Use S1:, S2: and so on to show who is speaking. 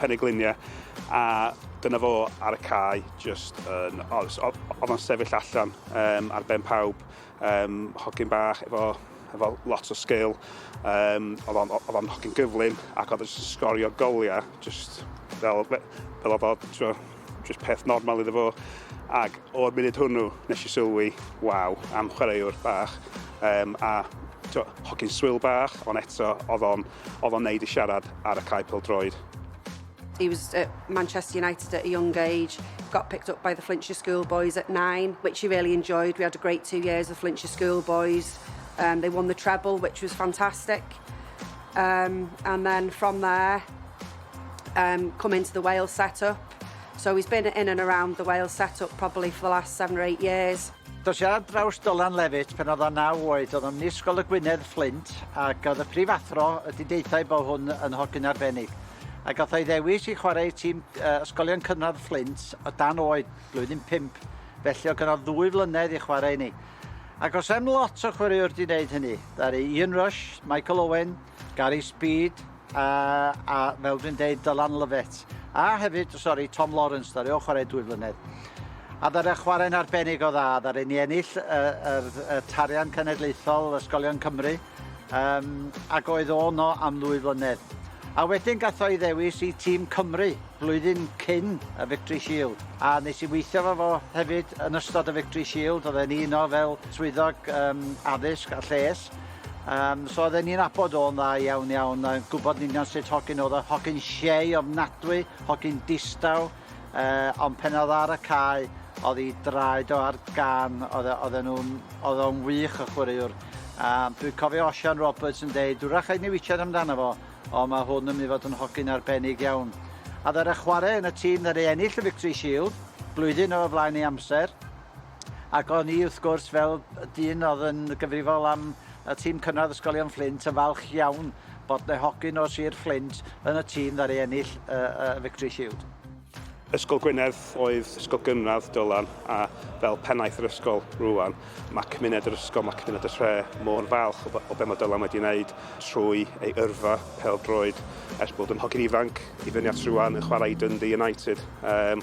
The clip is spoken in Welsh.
S1: Penyglinia a dyna fo ar y cae jyst yn... O, s- o- oedd o'n sefyll allan um, ar ben pawb, um, hogyn bach efo, efo lot o sgil, um, oedd o'n oedd o'n hogyn gyflym ac oedd o'n sgorio goliau jyst fel, fel oedd o, Just peth normal iddo fo. Ac o'r munud hwnnw, nes i sylwi, waw, am chwaraewr bach. Um, a to, hogyn swyl bach, ond eto, oedd o'n, oedd o'n neud i siarad ar y cae pel droed. He
S2: was at Manchester United at a young age, got picked up by the Flintshire Schoolboys at nine, which he really enjoyed. We had a great two years with Flintshire Schoolboys. Um, they won the treble, which was fantastic. Um, and then from there, um, come into the Wales setup. So he's been in and around the Wales setup probably for the last seven or eight years. Dos i ar draws
S3: Dylan Lefyt pen oedd o naw oed, oedd o'n nisgol y Gwynedd Fflint ac oedd y prifathro ydy deithau bod hwn yn hogyn arbennig. Ac oedd ei ddewis i chwarae tîm uh, ysgolion cynradd Fflint o dan oed, blwyddyn 5, felly oedd gynnal ddwy flynedd i chwarae ni. Ac os am lot o chwaraewr di wneud hynny, ddaru Ian Rush, Michael Owen, Gary Speed, a, a fel dwi'n deud, Dylan Lovett. A hefyd, sori, Tom Lawrence, ddaru o chwarae dwy flynedd. A ddara chwarae'n arbennig o dda, ddara ni ennill y, y, y tarian cenedlaethol Ysgolion Cymru, Yym, ac oedd o yno am ddwy flynedd. A wedyn gath o'i ddewis i tîm Cymru flwyddyn cyn y Victory Shield. A nes i weithio fo fo hefyd yn ystod y Victory Shield, oedd e'n un o fel swyddog um, addysg a lles. Um, so oedd e'n un abod o'n dda iawn iawn, a gwybod yn union sut hogyn oedd o, hogyn siei ofnadwy, hogyn distaw, uh, ond pen oedd ar y cae, oedd hi draed o ar gan, oedd e, oedd e nhw'n, oedd o'n wych o chwaraewr. Um, dwi'n cofio Osian Roberts yn dweud, dwi'n rhaid ni witsiad amdano fo, ond mae hwn yn mynd i fod yn hogyn arbennig iawn. A ddod â chwarae yn y tîm ddod ei ennill y Victory Shield, blwyddyn o flaen ei amser, Ac o'n i wrth gwrs fel dyn o'dd yn gyfrifol am y tîm cynradd ysgolion Fflint yn falch iawn bod 'ne hogyn o Sir Fflint yn y tîm ddaru ennill y y Victory Shield. Ysgol
S1: Gwynedd oedd ysgol gynradd Dylan a fel pennaeth yr ysgol rŵan ma' cymuned yr ysgol, ma' cymuned y tre mor falch o o be' ma' Dylan wedi neud trwy ei yrfa pêl-droed ers bod yn hogyn ifanc i fyny at rŵan yn chwarae i Dundee United. Yym.